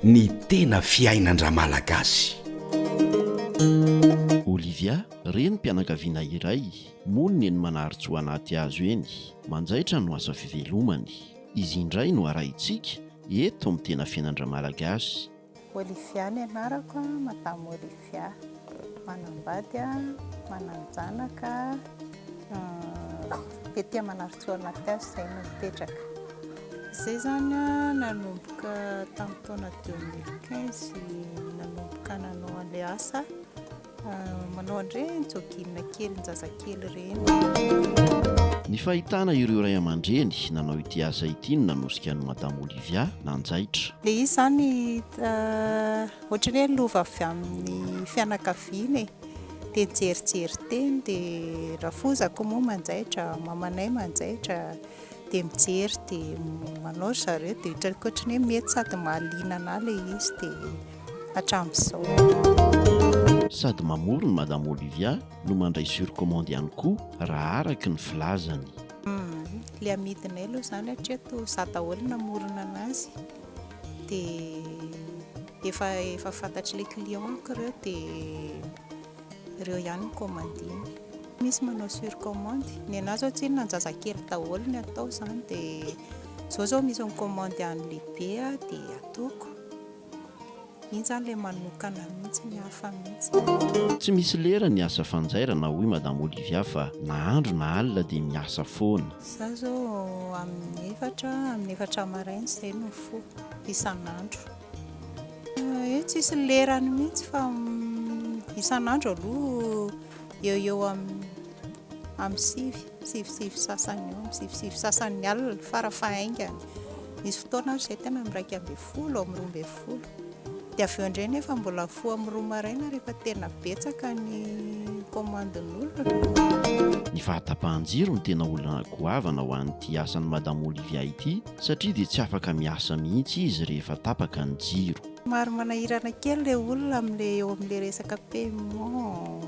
Ny tena fiainan-dRamalagasy. Olivia, renim-pianakaviana iray, monina eny Manaritsoa Anatihazo eny. Manjaitra no asa fivelomany. Izy indray no arahintsika eto amin'ny Tena Fiainan-dRamalagasy. Olivia ny anarako a, madame Olivia, manambady a, manan-janaka a, ety Manarintsoa Anaty Hazo izay no mipetraka. Izay izany a, nanomboka tamin'ny taona deux mille quinze nanomboka nanao an'ilay asa. Manao an'ireny jogging kely zazakely ireny. Ny fahitana ireo ray aman-dreny nanao ity asa ity no nanosika an'i Madame Olivia nanjaitra. Ilay izy izany uh, ohatran'ny hoe lova avy amin'ny fianakaviana e. Dia nijerijery teny dia rafozako moa manjaitra, mamanay manjaitra dia mijery dia manao zareo dia ohatran'ny hoe mety sady mahaliana anà ilay izy dia hatramin'izao. Sady mamorona Madame Olivia no mandray sur commande ihany koa raha araka ny filazany. Ilay amidinay aloha izany hatria toa izaho daholo no namorona an'azy dia efa efa fantatr'ilay client-ko ireo dia ireo ihany no commandiny. Misy manao sur commande, ny anah izao tsy inona an-jazakely daholo ny atao izany dia izao izao misy mi-commande an'ny lehibe dia ataoko. Iny zany le manokana mihitsy ny hafa mihitsy. Tsy misy lera ny asa fanjairana hoy madame Olivia fa na andro na alina dia miasa foana. Za zao amin'ny efatra, amin'ny efatra maraina izay no mifoha isan'andro. Eo tsisy lerany mihitsy fa isan'andro aloha eo eo amin'ny sivy. Sivosivy sasany eo amin'ny sivosivy sasan'ny alina fara fahaingany. Nisy fotoana aho izay teo amin'ny iraika ambin'ny folo, eo amin'ny roa ambin'ny folo. Dia avy eo indray anefa mbola foha amin'ny roa maraina rehefa tena betsaka ny komandin'olona. Ny fahatapahan-jiro no tena olana goavana ho an'ity asan'i Madame Olivia ity satria dia tsy afaka miasa mihitsy izy rehefa tapaka ny jiro. Somary manahirana kely ilay olona amin'ilay eo amin'ilay resaka paiement.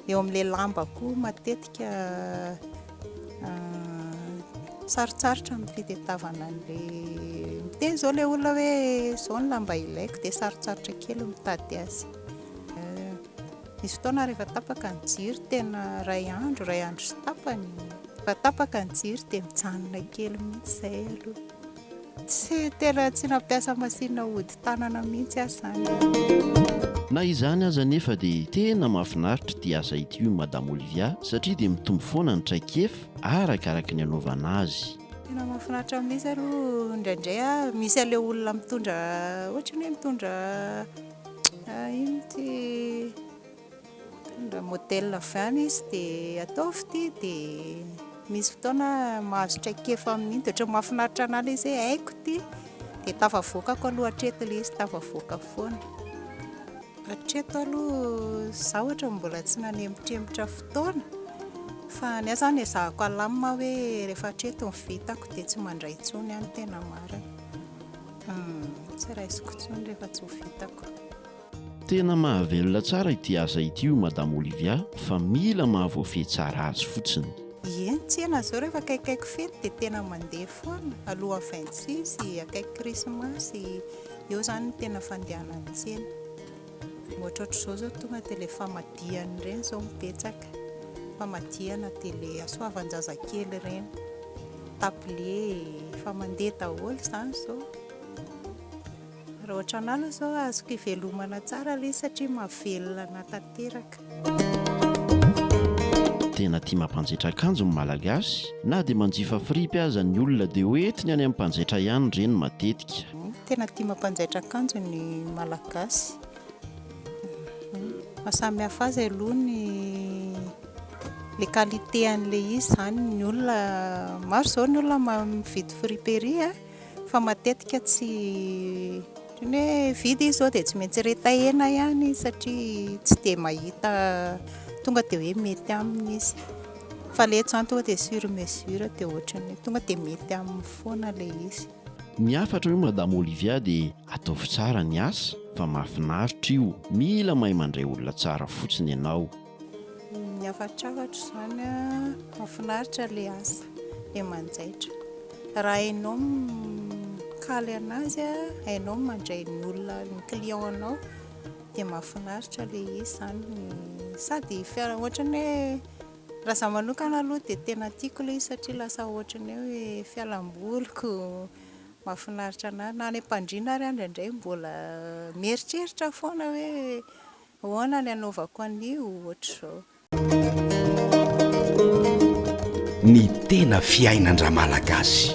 eo amin'ilay lamba koa matetika sarotsarotra ny fitetavana an'ilay miteny izao ilay olona hoe izao ny lamba ilaiko dia sarotsarotra kely mitady azy misy fotoana rehefa tapaka ny jiro tena iray andro iray andro sy tapany, rehefa tapaka ny jiro dia mijanona kely mihitsy izay aloha Tsy tena tsy nampiasa masinina hodi-tanana mihitsy aho izany. Na izany aza anefa dia tena mahafinaritra ity asa ity hoy Madame Olivia satria dia mitombo foana ny traikefa araka araka ny anaovana azy. Tena mahafinaritra mihitsy aloha indraindray aho misy an'ilay olona mitondra ohatran'ny hoe mitondra inona ity? Raha modèle avy any izy dia ataovy ity dia misy fotoana mahazo traikefa amin'iny dia ohatran'ny mahafinaritra anà ilay izy hoe haiko ity dia tafavoakako aloha hatreto ilay izy, tafavoaka foana. Hatreto aloha izaho ohatra mbola tsy nanempotrempotra fotoana fa ny ahy izany ezahako alamina aho hoe rehefa hatreto ny vitako dia tsy mandray intsony aho ny tena marina. Tsy raisiko intsony rehefa tsy ho vitako. Tena mahavelona tsara ity asa ity hoy Madame Olivia fa mila mahavoafehy tsara azy fotsiny. Ie, ny tsena izao rehefa akaikikaiky fety dia tena mandeha foana, alohan'ny vingt six, akaiky krismasy, eo izany no tena fandehanan'ny tsena. Ohatrohatr'izao izao tonga dia ilay famadihana ireny izao no betsaka, famadihana dia ilay hasoavan-jazakely ireny, tablier, efa mandeha daholo izany izao. Raha ohatranà aloha izao azoko ivelomana tsara ilay izy satria mahavelona anà tanteraka. Tena tia mampanjetra akanjo ny Malagasy, na dia manjifa fripy aza ny olona dia ho entiny any amin'ny mpanjaitra ihany ireny matetika. Tena tia mampanjaitra akanjo ny Malagasy. Ny mahasamy hafa azy aloha ny ilay qualité an'ilay izy izany. Ny olona, maro izao ny olona mividy friperie a. fa matetika tsy ohatran'ny hoe vide izy zao dia tsy maintsy retahina ihany satria tsy dia mahita tonga dia hoe mety aminy izy fa ilay eto izany tonga dia sur mesure dia ohatran'ny hoe tonga dia mety aminy foana ilay izy. Ny hafatra hoy Madame Olivia dia ataovy tsara ny asa fa mahafinaritra io, mila mahay mandray olona tsara fotsiny ianao. Miavatr'avatr zany a, mafinaritra le asa de manjaitra raha hainao mikaly anazy a, hainao mandray ny olona ny client nao de mafinaritra le izy zany sady fiara otrany hoe raha za manokana aloha de tena tiko le izy satria lasa otrany hoe fialamboliko, mafinaritra anahy na any ampandriana ary a ndraindray mbola mieritreritra foana hoe Ahoana ny anaovako an'io ohatr'izao? Ny tena fiainan-dRamalagasy.